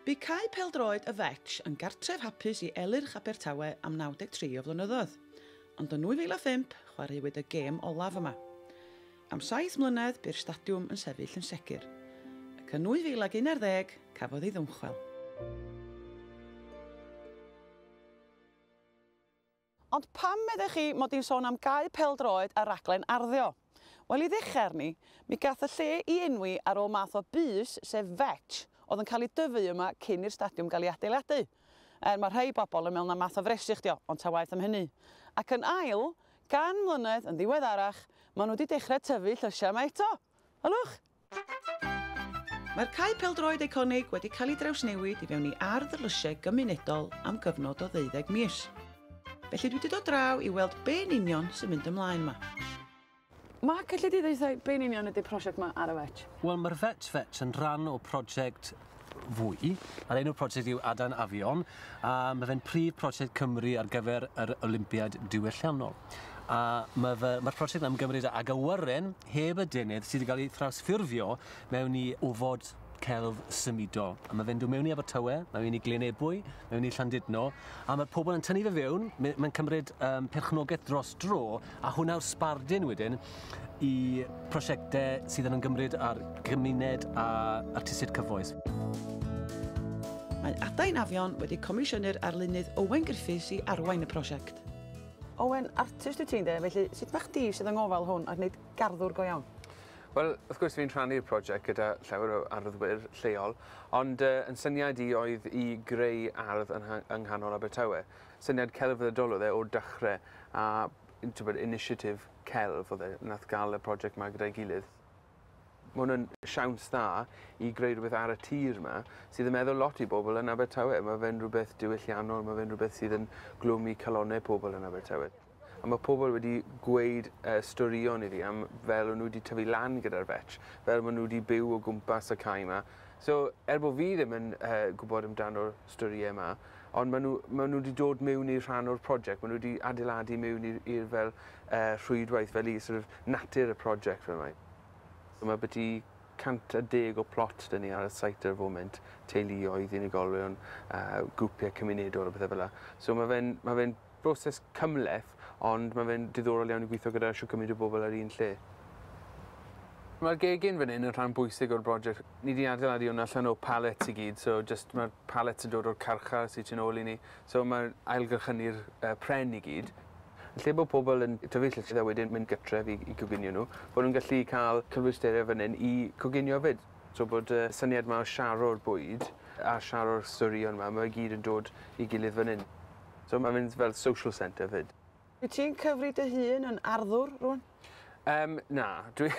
Bu Cae Pêl-droed y Vetch yn gartref hapus i Elyrch Abertawe am 93 o flynyddoedd, ond yn 2005 chwaraewyd y gêm olaf yma. Am saith mlynedd bu'r stadiwm yn sefyll yn segur, ac yn 2011 cafodd ei ddymchwel. Ond pam meddech chi mod i'n sôn am gau pêl-droed a rhaglen arddio? Wel, i ddechrau arni, mi gath y lle i enwi ar ôl math o bys, sef vetch, oedd yn cael ei dyfu yma cyn i'r stadiwm gael ei adeiladu. Er, mae rhai bobl yn meddwl na math o fresyll 'di o, ond ta waeth am hynny. Ac yn ail, gan mlynedd yn ddiweddarach, maen nhw wedi dechrau tyfu llysiau yma eto. Ylwch! Mae'r cae pêl-droed eiconig wedi cael ei drawsnewid i fewn i ardd y llysiau gymunedol am gyfnod o ddeuddeg mis. Felly dwi 'di dod draw i weld be' yn union sy'n mynd ymlaen 'ma. Mark, elli di ddeutha i be' yn union ydi'r prosiect 'ma ar y Vetch? Wel, mae'r Vetch Vetch yn rhan o project fwy, a'r enw'r prosiect yw Adran Afion, a mae fe'n prif prosiect Cymru ar gyfer yr Olympiad diwylliannol. A mae'r mae ma prosiect yn ymgymryd ag awyren heb y denydd sydd wedi cael ei thrawsffurfio mewn i ofod celf symudol. A mae fe'n dod mewn i Abertawe, mae fe'n i Glynebwy, mae fe'n i Llandudno, a mae pobl yn tynnu fe fewn, mae'n cymryd um, perchnogaeth dros dro, a hwnna yw'r sbardun wedyn i prosiectau sydd yn ymgymryd â'r gymuned a artistiaid cyfoes. Mae Adain Afion wedi comisiynu'r arlunydd Owen Griffiths i arwain y prosiect. Owen, artist wyt ti ynde, felly sut mae chdi sydd yng ngofal hwn ac wneud garddwr go iawn? Wel, wrth gwrs fi'n rhannu'r prosiect gyda llawer o arddwyr lleol, ond uh, yn syniad i oedd i greu ardd yn yng nghanol Abertawe. Syniad celfyddydol oedd e o'r dechrau, a initiative celf oedd e nath ga'l y project 'ma gyda'i gilydd. Ma' hwn yn siawns dda i greu rhywbeth ar y tir 'ma sydd yn meddwl lot i bobl yn Abertawe. Ma' fe'n rhywbeth diwylliannol ma' fe'n rhywbeth sydd yn glwymi calonne pobl yn Abertawe. A ma' pobl wedi gweud yy storïon i fi am fel o' nw 'di tyfu lan gyda'r Vetch fel ma' nw 'di byw o gwmpas y cae 'ma. So er bo' fi ddim yn yy gwbod amdano'r storie 'ma Ond maen nhw, maen nhw wedi dod mewn i rhan o'r project, maen nhw wedi adeiladu mewn i'r fel uh, rhwydwaith, fel i sort of natur y project fel mae. So mae beti 110 o plot dyn ni ar y site ar y foment, teuluoedd, unigolion, uh, grwpiau cymunedol a bethau fel yna. So mae fe'n ma fe Broses cymhleth, ond mae fe'n diddorol iawn i gweithio gyda shwt cymaint o bobl ar un lle. Mae'r gegin fan hyn yn rhan bwysig o'r broject. Ni 'di adeiladu hwn allan o pallets i gyd, so jyst mae'r pallets yn dod o'r carchar sy tu nôl i ni, so mae ailgylchynu'r yy pren i gyd. Yn lle bod pobl yn tyfu llysiau a wedyn mynd gytref i i goginio nhw, bod nhw'n gallu cael cymwysterau fan hyn i coginio 'fyd. So bod y syniad 'ma o sharo'r bwyd a sharo'r storïon 'ma, mae fe gyd yn dod i gilydd fan hyn. So mae'n mynd fel social centre 'fyd. Wyt ti'n cyfri dy hun yn arddwr rwan? Yym, na. Dwi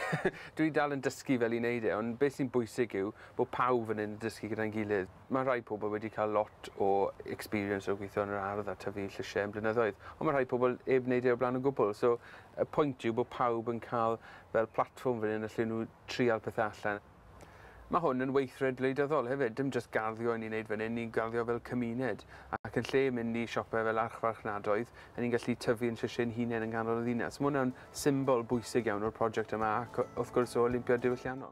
dwi dal yn dysgu fel i wneud e, ond beth sy'n bwysig yw bod pawb fan hyn yn dysgu gyda'n gilydd. Mae rhai pobl wedi cael lot o experience o gweithio yn yr ardd a tyfu llysie yn blynyddoedd, ond mae rhai pobl 'eb wneud e o'r blaen o gwbl. So y pwynt yw bod pawb yn cael fel platfform fan hyn y lle nhw trial pethe allan. Mae hwn yn weithred wleidyddol hefyd, dim jyst garddio i ni'n neud fan hyn, ni'n garddio fel cymuned, ac yn lle mynd i siope fel archfarchnadoedd, y'n ni'n gallu tyfu yn llysie ein hunen yng nghanol y ddinas. Mae hwnna'n symbol bwysig iawn o'r project yma ac, wrth gwrs, o Olympia Diwylliannol.